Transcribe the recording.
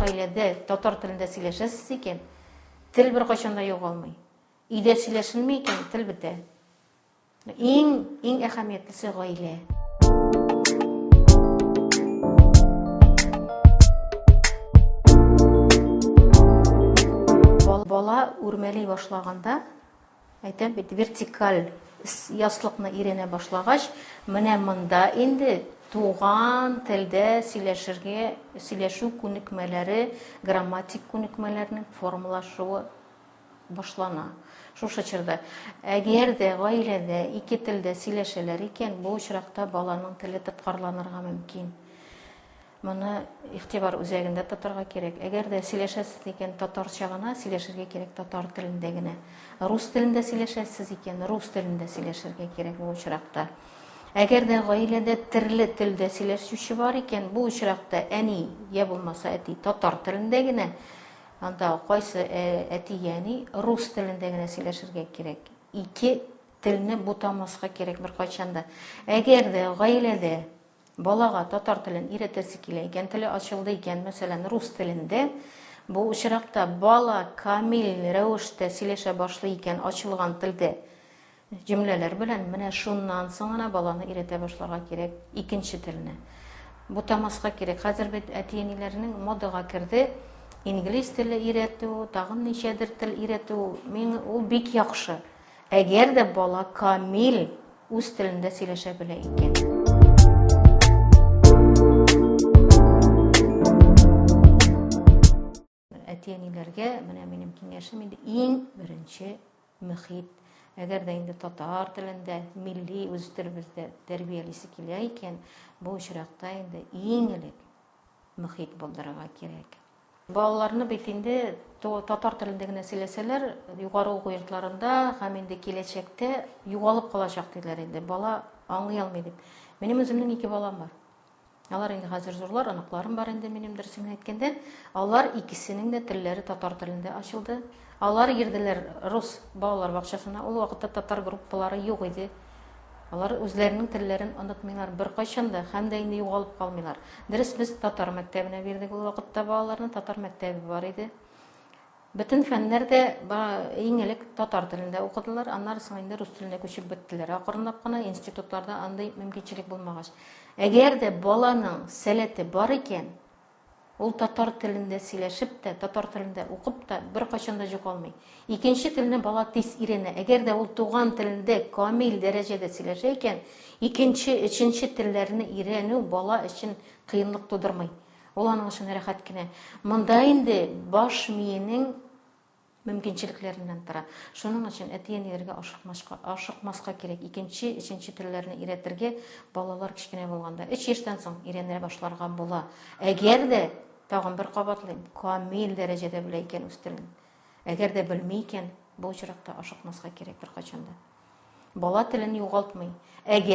Гаиләдә татар телендә сөйләшәсез икән, тел беркайчан да югалмый. Өйдә сөйләшенми икән, тел бетә. Иң иң әһәмиятлесе гаилә. Бала үрмәли башлаганда Әйтәм бит, вертикаль яслыкны өйрәнә башлагач, менә монда инде туган телдә сөйләшергә, сөйләшү күнекмәләре, грамматик күнекмәләрнең формалашуы башлана. Шушы чорда. Әгәр дә гаиләдә ике телдә сөйләшәләр икән, бу очракта баланың теле тоткарланырга мөмкин. Моны игътибар үзәгендә тотарга кирәк. Әгәр дә сөйләшәсез икән, татарча гына сөйләшергә кирәк, татар телендә генә. Рус телендә сөйләшәсез икән, рус телендә сөйләшергә кирәк бу очракта. Әгәр дә гаиләдә төрле телдә сөйләшүче бар икән, бу очракта әни я булмаса әти татар телендә генә, анда кайсы э, әти я әни рус телендә генә сөйләшергә кирәк. Ике телне бутамаска кирәк беркайчан да. Әгәр дә гаиләдә Балага татар телен өйрәтәсе килә икән, теле ачылды икән, мәсәлән, рус телендә, бу очракта бала камил рәвештә сөйләшә башлый икән, ачылган телдә, җөмләләр белән, менә шуннан соң гына баланы өйрәтә башларга кирәк икенче телне. Бутамаска кирәк. Хәзер бит әти-әниләрнең модага керде, инглиз теле өйрәтү, тагын ничәдер тел өйрәтү, мин ул бик яхшы. Әгәр дә бала камил үз телендә сөйләшә белә икән. әти-әниләргә менә минем киңәшем инде иң беренче мөхит. Әгәр дә инде татар телендә, милли үз телебездә тәрбиялисе килә икән, бу очракта инде иң элек мөхит булдырырга кирәк. Балаларны бит инде татар телендә генә сөйләсәләр, югары уку йортларында һәм инде киләчәктә югалып калачак диләр инде, бала аңлый алмый дип. Минем үземнең ике балам бар. Алар инде хәзер зурлар, оныкларым бар инде минем дөресен әйткәндә. Алар икесенең дә телләре татар телендә ачылды. Алар йөрделәр рус балалар бакчасына. Ул вакытта татар группалары юк иде. Алар үзләренең телләрен онытмыйлар беркайчан да һәм дә инде югалып калмыйлар. Дөрес, без татар мәктәбенә бирдек ул вакытта балаларны, татар мәктәбе бар иде. Бөтен фәннәр дә иң элек татар телендә укыдылар, аннары соң инде рус теленә күчеп беттеләр. Акрынлап кына институтларда андый мөмкинчелек булмагач. Әгәр дә баланың сәләте бар икән, Ул татар телендә сөйләшеп тә, татар телендә укып та беркайчан да җокалмый. Икенче телне бала тиз өйрәнә. Әгәр дә ул туган телендә камил дәрәҗәдә сөйләшә икән, икенче, өченче телләрне өйрәнү бала өчен кыенлык тудырмый. Ул аның өчен рәхәт кенә. Монда инде баш миенең мөмкинчелекләреннән тора. Шуның өчен әти-әниләргә ашыкмашка, ашыкмаска кирәк. Икенче, өченче телләрне өйрәтергә балалар кечкенә булганда, 3 яшьтән соң өйрәнә башларга була. Әгәр дә, тагын бер кабатлыйм, камил дәрәҗәдә белә икән үстерүен. Әгәр дә белми икән, бу очракта ашыкмаска кирәк беркайчан да. Бала телен югалтмый. Әгәр